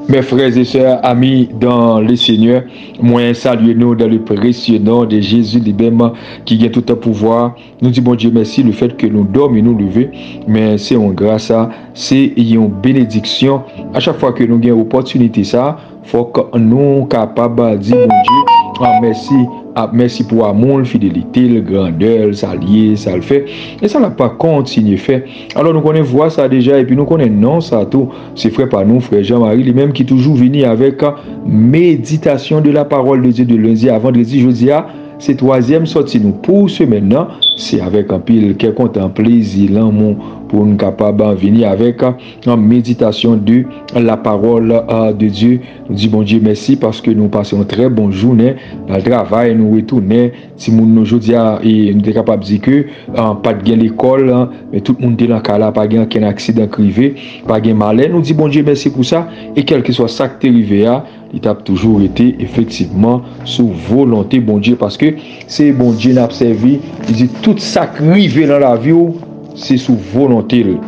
Mes frères et sœurs, amis dans le Seigneur, mwen salye nou dans le précieux nom de Jésus li menm ki gen tout pouvwa. Nou di Bondye mèsi le fèt ke nou dòmi nou leve, men se yon gras, se yon benediksyon a chak fwa ke nou gen opòtinite sa. Fok nou kapab di Bondye mèsi ap mèsi pou amoul, fidelitel, grandèl, sal ye, sal fè, e sa lap kontinye fè. Alò nou konnen vwa sa deja epi nou konnen non sa tou. Se frè pa nou, frè Jean Marie li menm ki toujou vini avèk meditasyon de la parole de Dieu de lundi a vendredi jodia se twazyèm sòti nou pou semèn nan se avèk anpil kè kontan, plezi, lanmou poun kapab vini avèk. An meditasyon de la pawòl de Dye. Nou di Bondye mèsi paske nou pase yon trè bon jounen nan travay nou retounen timoun nou jodi a e nou te kapab di ke pat gen lekòl men tout moun te lan kay la pa gen ankenn aksidan k rive pa gen malè nou di Bondye mèsi pou sa e kèlkeswa sak te rive a Li t ap toujou rete efektivman sou volonte Bondye paske se Bondye n ap sèvi. Li di, Tout sa k rive nan lavi w se sou volonte l.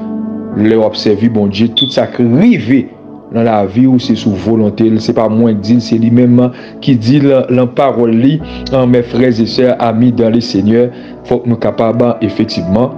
Lè w ap sèvi Bondye, tout sa k rive nan lavi w se sou volonte l. Se pa mwen k di l, se li menm ki di l lan pawòl li. Mè frèzesè, ami dan Lesenyè, fòk nou kapab efektivman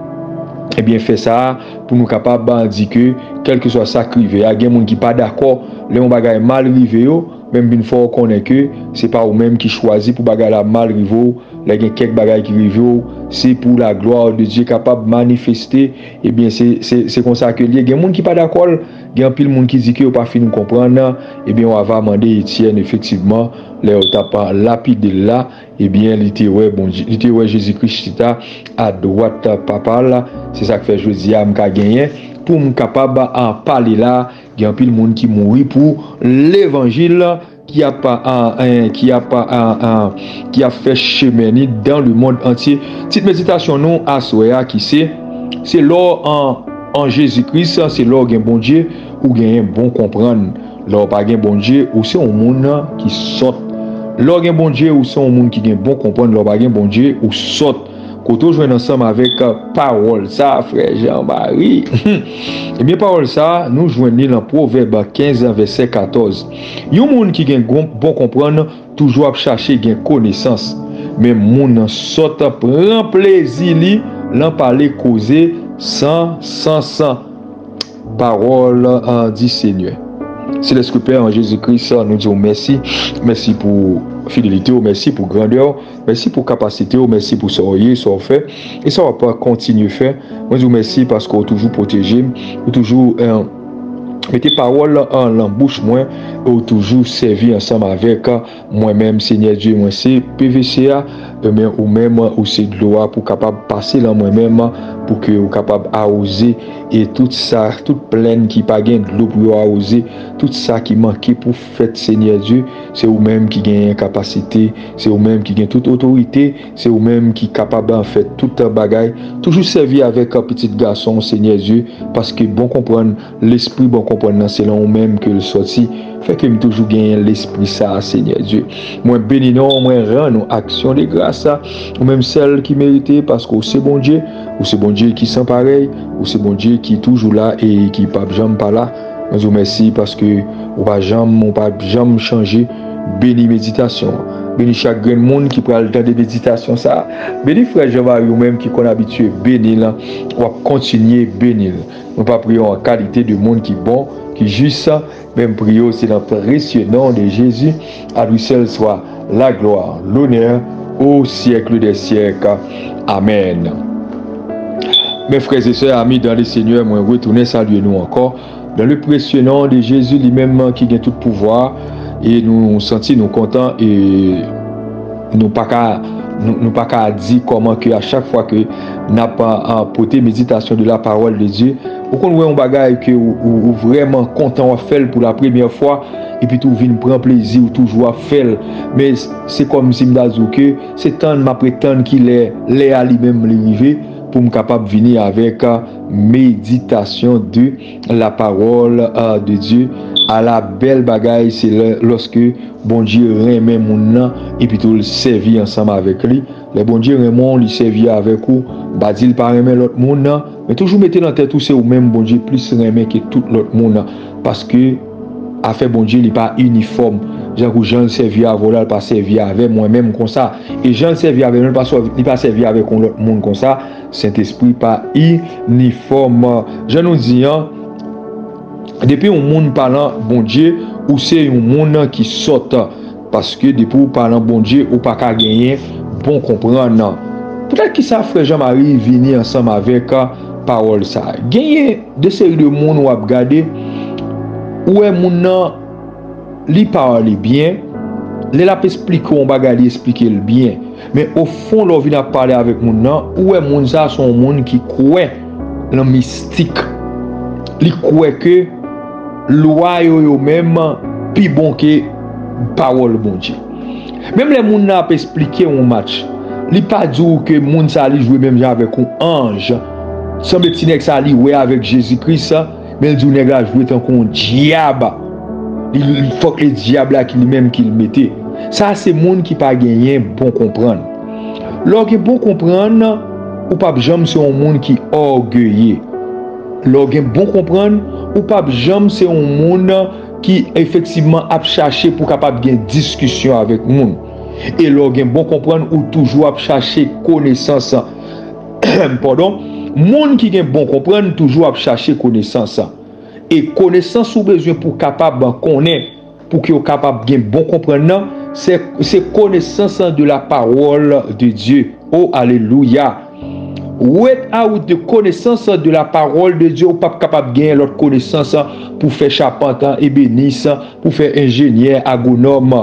fè sa a. pou nou kapab di ke kèlkeswa sa k rive a, gen moun ki pa dakò lè yon bagay mal rive yo, men m vin fè w konnen ke se pa ou menm ki chwazi pou bagay la mal rive w, lè gen kèk bagay ki rive w, se pou laglwa de Dye kapab manifeste, ebyen se konsa ke l ye, gen moun ki pa dakò l, gen anpil moun ki di ke yo pa fin konprann, ebyen w ava mande Etyèn efektivman lè yo t ap lapide l la. Ebyen, li te wè Bondye, li te wè Jezi Kris chita adwat Papa l. Se sa k fè jodi a m ka genyen pou m kapab pale la. Gen anpil moun ki mouri pou levanjil, ki ap, ki ap, ki ap fè chemen ni dan lemonn antye. Tit meditasyon nou aswè a ki se, Se lè w an Jezi Kris, se lè w gen Bondye, ou genyen bon konprann. Lè w pa gen Bondye, ou se yon moun ki sòt. Lè w gen Bondye, ou se yon moun ki gen bon konprann. Lè w pa gen Bondye, ou sòt. Kote w jwenn ansanm avèk pawòl sa a, frè Jean Mari? Ebyen, pawòl sa a, nou jwenn li lan Pwovèb 15 vèsè 14. Yon moun ki gen bon konprann toujou ap chache gen konesans, men moun sòt pran plezi li lan pale koze san sans. Parol di Senyè. Selèske Pè an Jezi Kris nou diw mèsi, mèsi pou fidelitew, mèsi pou grandèw, mèsi pou kapasitew, mèsi pou sa w ye, sa w fè e sa wap kontinye fè, mwen diw mèsi paske w toujou pwotejem, ou toujou mete pawòl lan bouch mwen e w toujou sèvi ansanm avèk. Mwen menm Senyè Dye mwen se pevese a, men ou menm ou se dlo a pou kapab pase lan mwen menm, pou ke ou kapab awoze e tout sa, tout plenn ki pa gen dlo pou yo awoze, tout sa ki manke pou fèt Senyè Dye, se ou menm ki genyen kapasite, se ou menm ki gen tout otorite, se ou menm ki kapab fè tout bagay, toujou sèvi avèk pitit gason w Senyè Dye, paske bon konprann. Lespri bon konprann nan se lan ou menm ke l sòti, fè ke m toujou genyen Lespri sa a, Senyè Dye. Mwen beni non ou, mwen rann ou aksyon de gras, ou menm sèl ki merite, paske ou se Bondye, ou se Bondye ki san parèy, ou se Bondye ki toujou la e ki pap janm pa la. Mwen di w mèsi paske ou pa janm, ou pa janm chanje. Beni meditasyon an. Beni chak grenn moun ki pral tande meditasyon sa a. Beni frè Jean Marie ou menm ki konn abitye beni l, w ap kontinye beni l. Nou pa priye w an kalite de moun ki bon, ki jis, men m priye w se nan presye non de Jezi, a lui sèl swa laglwa, lonè, o syèkle dè syèk. Amèn. Mes frères et sœurs, amis dans le Seigneur, mwen retounen salye nou ankò, dans le presye non de Jezi, li menm ki gen tout pouvwa, e nou santi nou kontan e. Nou pa ka Nou pa ka di kòman ke a chak fwa ke nap pote meditasyon de la parole de Dieu, ou konn wè yon bagay ke ou vrèman kontan wap fèl pou la premyè fwa, epi tou ou vin pran plezi ou toujou ap fèl, men se kòmsi m ta di w ke se tann map ret tann kilè lè a li menm li rive poum kapab vini avèk meditasyon de. La parole de Dieu Ala bèl bagay se lè lòske Bondye renmen moun nan epitou l sèvi ansanm avèk li. Lè Bondye renmen w, li sèvi avèk ou, m pa di l pa renmen lòt moun nan, men toujou mete nan tèt ou se ou menm Bondye plis renmen ke tout lòt moun nan, paske afè Bondye li pa inifòm, jan kou jan l sèvi avè w la l pa sèvi avè mwen menm konsa, e jan l sèvi avè nou li pa sèvi avèk yon lòt moun konsa. Sentespri pa inifòm. Jan nou di an, depi yon moun pa lan Bondye, ou se yon moun ki sòt. Paske depi ou pa lan Bondye, ou pa ka genyen bon konprann. Poutèt ki sa frè Jean Marie vini ansanm avèk pawòl sa? Genyen de seri de moun wap gade, ou wè moun nan. Li pale byen, lè lap esplike w yon bagay li esplike l byen, men o fon lè w vin ap pale avèk moun nan ou wè moun sa a se yon moun ki kwè lan mistik, li kwè ke lwa yo yo menm pi bon ke pawòl Bondye. Menm lè moun nan ap esplike w yon match, li pa di w ke moun sa a li jwe menm jan avèk yon anj, sanble ti nèg sa a li wè avèk Jezi Kris, Menl diw nèg la jwe tankou yon dyab li fòk e dyab la ki li menm kil mete sa se moun ki pa genyen bon konprann lèw gen bon konprann ou pap janm se yon moun ki ògeye lèw gen bon konprann ou pap janm se yon moun ki efektivman ap chache pou kapab gen diskisyon avèk moun e lèw gen bon konprann ou toujou ap chache konesans. Pardon, moun ki gen bon konprann toujou ap chache konesans. E konesans ou bezwen pou kapab konnen, pou ke ou kapab gen bon konprann nan, se se konesans de la pawòl de Dye. O alelouya! Without the konesans de la pawòl de Dye, ou pap kapab genyen lòt konesans pou fè chapant, ebenis, pou fè enjenyè, agonòm.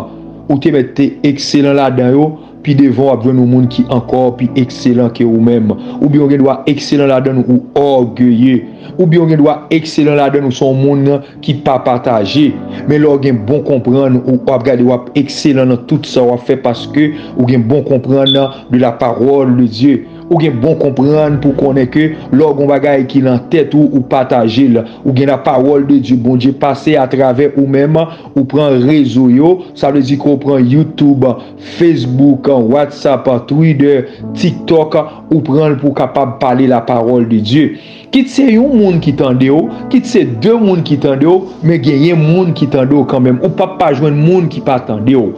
Ou te mèt te ekselan ladan yo, Pi devan w ap jwenn yon moun ki ankò pi ekselan ke ou menm. Oubyen ou gen dwa ekselan ladann ou ògeye. Oubyen ou gen dwa ekselan ladann ou se yon moun ki pa pataje. Men lè w gen bon konprann ou ap gade w ap ekselan nan tout sa w ap fè paske ou gen bon konprann de la parole de Dieu. Ou gen bon konprann pou w konnen ke lè w gen yon bagay ki lan tèt ou ou pataje l. Ou gen la parole de Dieu Bondye pase atravè ou menm ou pran rezo yo sa vle di ke w pran YouTube. Facebook, WhatsApp, Twitter, TikTok, ou pran l pou w kapab pale lapawòl de Dye. Kit se yon moun ki tande w, kit se de moun ki tande w, men genyen moun ki tande w kanmenm. Ou pap pa jwenn moun ki pa tande w.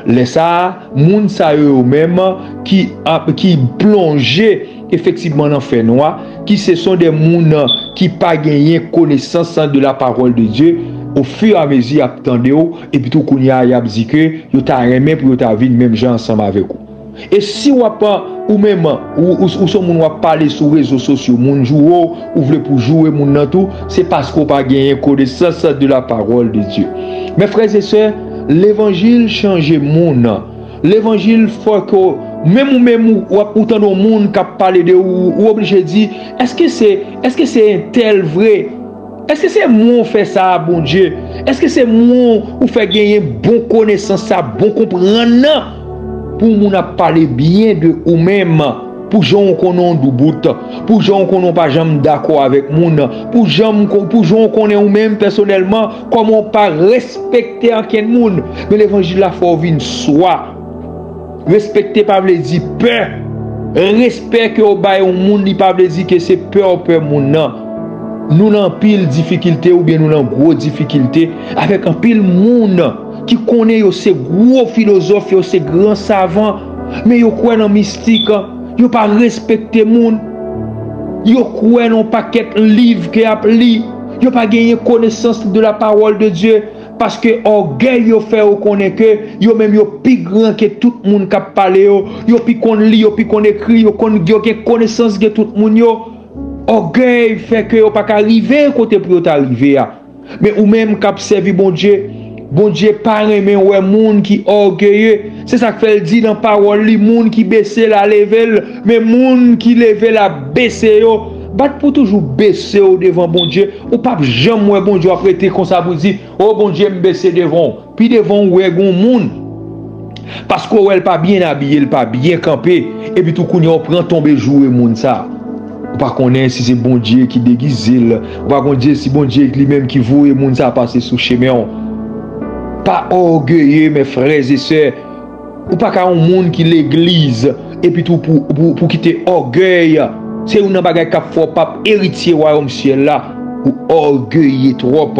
Lè sa a, moun sa yo yo menm ki plonje. Efektivman nan fè nwa, ki se son de moun ki pa genyen konesans de la parole de Dieu, o fur a mezi y ap tande w, epi tou kounye a y ap di ke yo ta renmen pou yo ta vin menm jan ansanm avèk ou. E si w ap, ou menm, ou son moun w ap pale sou rezo sosyo, moun joure w, ou vle pou joure moun nan tou, se paske w pa genyen konesans de la parole de Dieu. Men frè e sè, levanjil chanje moun. Levanjil fò ke menm ou menm ou tande yon moun kap pale de ou, ou oblije di eske se eske se entèl vre? Eske se mwen ou fè sa a Bondye? Eske se mwen ou fè genyen bon konesans sa, bon konprann nan? Pou moun ap pale byen de ou menm, pou jan ou konnen ou doubout, pou jan ou konnen ou pa janm dakò avèk moun, pou jan ou konnen ou menm pèsonèlman, Kòman w pa respekte ankenn moun nan levanjil la fò w vin swa. Respekte pa vle di pè. Respè ke w bay yon moun li pa vle di ke se pè w pè moun nan. Nou nan anpil difikilte oubyen nou nan gwo difikilte avèk anpil moun ki konnen yo se gwo filozòf yo se gran savan men yo kwè nan mistik yo pa respekte moun yo kwè nan pakèt liv ke yap li Yo pa genyen konesans de la pawòl de Dye, paske ògèy yo fè yo konnen ke yo menm yo pi gran ke tout moun k'ap pale yo, yo pi konn li, yo pi konn ekri, yo konn, yo gen konesans ke tout moun yo. Ògèy fè ke yo pa ka rive kote pou yo ta rive a. Men ou menm k'ap sèvi Bondye. Bondye pa renmen wè moun ki ògeye. Se sa k fè l di nan Pawòl li, Moun ki bese l a leve l, men moun ki leve l a bese yo. Bat pou w toujou bese w devan Bondye. Ou pap janm wè Bondye w ap rete konsa pou w di, O Bondye, m bese devan w. Pi devan ou wè gen yon moun. Paske w wè l pa byen abiye, l pa byen kanpe, epi tou kounye a w pran tonbe joure moun sa a. Ou pa konnen si se Bondye ki degize l, ou pa konnen si Bondye li menm ki voye moun sa a pase sou chemen w. Pa ògeye men frè e sè, ou pa ka yon moun ki legliz, Epi tou pou w kite ògèy, se youn nan bagay k ap fè w pap eritye wayòm syèl la, ou ògeye twòp.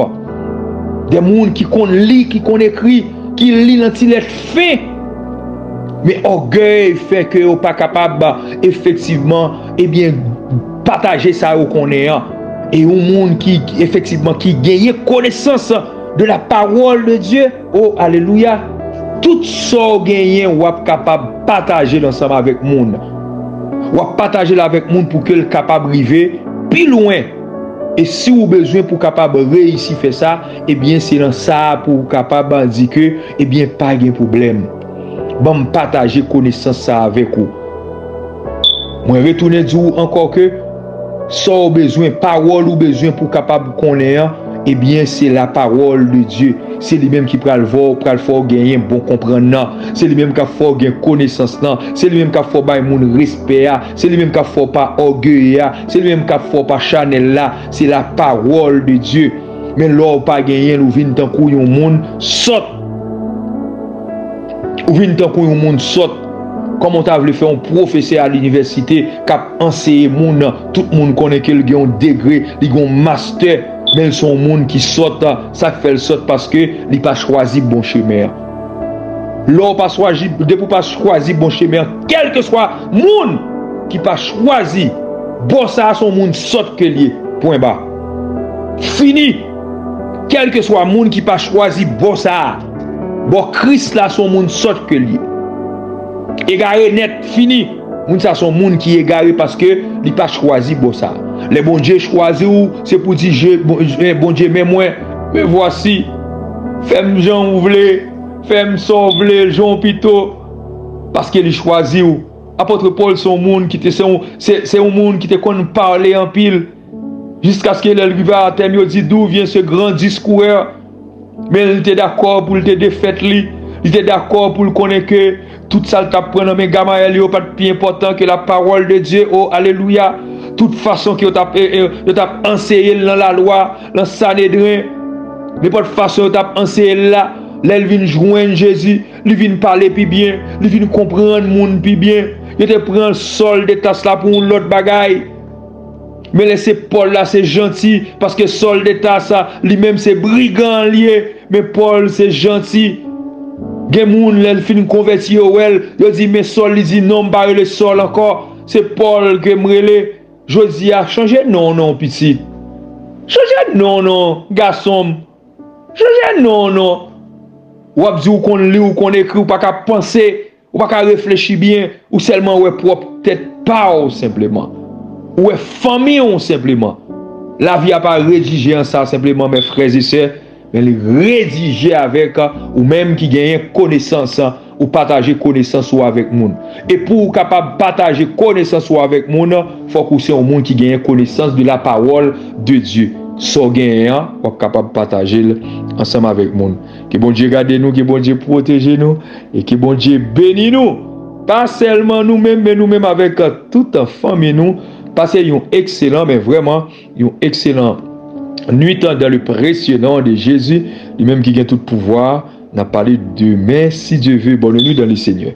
Gen moun ki konn li, ki konn ekri, ki li nan ti lèt fen, men ògèy fè ke yo pa kapab efektivman ebyen pataje sa yo konnen an. E yon moun ki efektivman ki genyen konesans de la pawòl de Dye, Oh alelouya tout Saw genyen wap kapab patajel ansanm avèk moun wap patajel avèk moun poukel kapab rive pi lwen e si ou bezwen pou kapab reyisi fè sa ebyen se nan sa pouw kapab di ke ebyen pa gen pwoblèm banm pataje konesans sa avèk ou mwen retounen di ou ankò ke Sa w bezwen, pawòl ou bezwen pou w kapab konnen an, ebyen se lapawòl de Dye. Se li menm ki pral vè w, pral fè w genyen bon konprann nan. Se li menm k ap fè w gen konesans lan. Se li menm k ap fè w bay moun respè a. Se li menm k ap fè w pa ògeye a. Se li menm k ap fè w pa chanèl la. Se lapawòl de Dye. Men lè w pa genyen l ou vin tankou yon moun sòt. Ou vin tankou yon moun sòt. Kòman w ta vle fè yon pwofesè a linivèsite k ap anseye moun, tout moun konnen ke l gen yon degre, li gen yon mastè, men l se yon moun ki sòt? Sa k fè l sòt? Paske li pa chwazi bon chemen an. Lè w pa chwazi, depi w pa chwazi bon chemen an, kèlkeswa moun ki pa chwazi bon sa a, se yon moun sòt ke l ye. Pwen ba. Fini! Kèlkeswa moun ki pa chwazi bon sa a. Bon kris la son moun sòt ke li egare nèt fini moun sa son moun ki egare paske li pa chwazi bon sa lè Bondye chwazi ou se pou di je Bondye men mwen me vwasi fèm jan ou vle fèm sa ou vle jan ou pito paske li chwazi ou apòtre Paul son moun ki te se yon moun ki te konn pale anpil. Jiskaske lè l rive a Atèn, yo di, Dou vyen se gran diskouè? Men, li te dakò pou l te defèt li. Li te dakò pou l konnen ke tout sa l t ap pran nan men Gamayèl yo pa t pi enpòtan ke lapawòl de Dye. O, alelouya! Tout fason ke yo t ap anseye l nan lalwa, nan Sanedren, nenpòt fason yo t ap anseye l la, lè l vin jwenn Jezi, li vin pale pi byen, li vin konprann moun pi byen. Yo te pran Sòl de Tas la pou yon lòt bagay. Men lè se Paul la se janti paske Saul de Tarse li menm se brigan li ye men Paul se janti gen moun lè l fin konvèti yo wè l yo di men Saul li di non m pa rele Saul ankò se Paul ke m rele jodi a chanje non w non pitit chanje non w non gason m chanje non w non w ap di w konn li w konn ekri w pa ka panse Ou pa ka reflechi byen, ou sèlman wè pwòp tèt pa w senpleman. Ou wè fanmi w senpleman. Lavi a pa redije an sa senpleman men frèzesè, men li redije avèk ou menm ki genyen konesans, ou pataje konesans ou avèk moun. E pou ou kapab pataje konesans ou avèk moun, fòk ou se yon moun ki genyen konesans de la pawòl de Dye. Sa w genyen an, w ap kapab pataje l ansanm avèk moun. Ke Bondye gade nou, ke Bondye pwoteje nou. E ke Bondye beni nou! Pa sèlman nou menm men nou menm avèk tout fanmi nou pase yon ekselan men vrèman yon ekselan nwit dan le presye non de Jezi li menm ki gen tout pouvwa a nap pale demen si Dye ve bone nwit dan le Senyè.